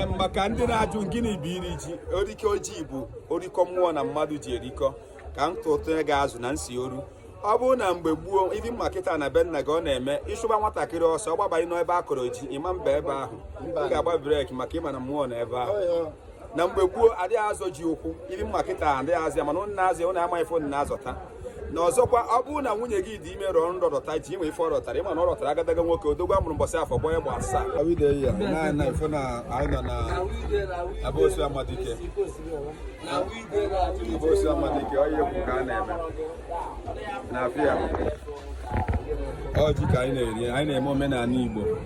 maka ndị na-ajụ gịnị bụ iri ji orikọ ji bụ orikọ mmụọ na mmadụ ji erikọ ka m tụtụnye gị azụ na nsi oru ọ bụrụ na mgbe gboo ịdị ma kịta na be nna gị ọ na-eme ị chụba nwatakịrị ọsọ ọ gbabanye n'ebe a kọrọ ji ịma mba ebe ahụ ị ga-agba brake maka ị ma na mmụọ nọ ebe ahụ na mgbe gboo adịghị azọ ji ụkwụ ịdị ma kịta adịghị azọ ya mana ụnụ na-azọ ya ụnụ amaghị ife ụnụ na-azọta na ọzọkwa ọ bụrụ na nwunye gị dị ime rọọ nrọ rọta ji inwe ife ọ rọtara ị ma na ọ rọtara agadaga nwoke odogwu a mụrụ mbọsị afọ gbọ ya egbe asaa awide ya na na ife na anyị nọ na mbosi amadike mbosi amadike ọ ihe ka a na-eme na afịa ọ ji ka anyị na-eri anyị na-eme omenala igbo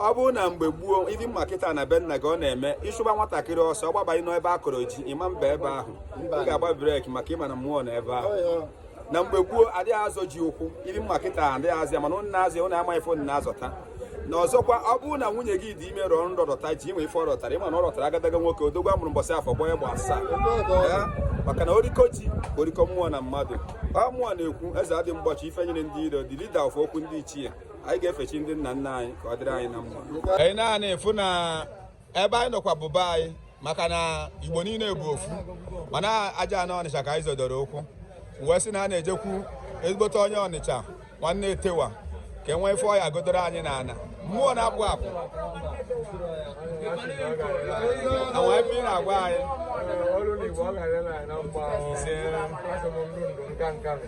ọ bụrụ na mgbe gboo ịdị ma kịta na be nna gị ọ na-eme ị chụba nwatakịrị ọsọ ọ gbabanye n'ebe a kọrọ ji ịma mba ebe ahụ ị ga-agba brake maka ị ma na mmụọ nọ ebe ahụ na mgbe gboo adịghị azọ ji ụkwụ ịdị ma kịta adịghị azọ ya mana ụnụ na-azọ ya ụnụ amaghị ife ụnụ na-azọta na ọzọkwa ọ bụrụ na nwunye gị dị ime rọọ nrọ rọta ji inwe ife ọ rọtara ị ma na ọ rọtara agadaga nwoke odogwu a mụrụ mbọsị afọ gbọ ya egbe asaa maka na orikọ ji orikọ mmụọ na mmadụ ọ mụnwa na-ekwu eze adị mgbochi ife nyịrị ndị iro the leader of okwu ndị ichie anyị ga-efe chi ndị nna nna anyị ka ọ dịrị anyị na mma anyị anaghị efu na ebe anyị nọkwa bụ be anyị maka na igbo niile bụ ofu mana aja ana ọnịcha ka anyị zọdoro ụkwụ wee sị na a na-ejekwu ezigbote onye ọnịcha nwanne etewa ka e nwee ife ọ ya-agọdoro anyị na ana mmụọ na-apụ apụ na wee ebe ị na-agwa anyị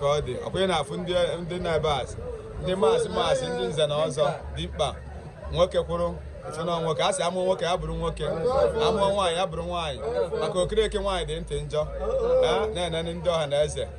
ka ọ dị ọkwa ị na-afụ ndị na-ebe asị ndị maazị maazị ndị nze na ọzọ dimkpa nwoke kwụrụ na nwoke a sị a mụọ nwoke ya bụrụ nwoke a mụọ nwaanyị ya bụrụ nwaanyị maka okereke nwaanyị dị ntị njọ na-enene ndị ọha na eze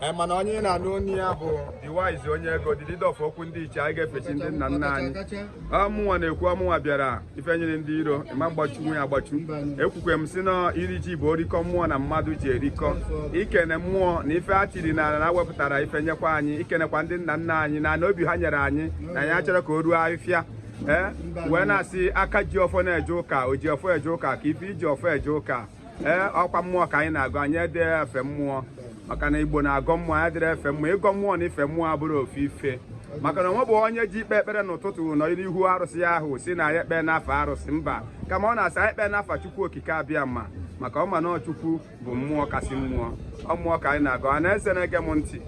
anyị mana onye ị na-anụ ọnụ ya bụ the wise onye ego the leader of okwu ndị ichie anyị ga-efe chi ndị nna nna anyị ọ mụnwa na-ekwu ọ mụnwa bịara ife nyịrị ndị iro ịma gbachu nwe ya gbachu ekwukwa m sị na iri ji bụ orikọ mmụọ na mmadụ ji erikọ ikene mmụọ na ife a chiri na ana wepụtara ife nyekwa anyị ikenekwa ndị nna nna anyị na ana obi ha nyere anyị na anyị achọrọ ka o ruo afịfịa ee wee na-asị aka ji ọfọ na-eje ụka o ji ọfọ eje ụka ka ife iji ọfọ eje ụka ee ọkwa mmụọ ka anyị na-agọ anyị adị efe mmụọ maka na igbo na-agọ mmụọ anyị adịrọ efe mmụọ ịgọ mmụọ na ife mmụọ abụrọ ofu ife maka na o nwebe onye je ikpe ekpere n'ụtụtụ nọ n'ihu arụsị ahụ sị na ya ekpe n'afa arụsị mba kama ọ na-asị ekpe n'afa chukwu okike abịama maka ọ ma na chukwu bụ mmụọ kasị mmụọ ọ mmụọ ka anyị na-agọ ọha na eze na-ege m ntị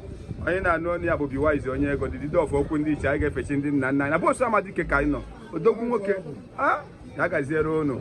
onye na-anụ ọnụ ya bụ be wise onye ego the leader of okwu ndị ichie anyị ga-efe chi ndị nna nna anyị mbosi amadike ka anyị nọ odogwu nwoke a ya gaziere unu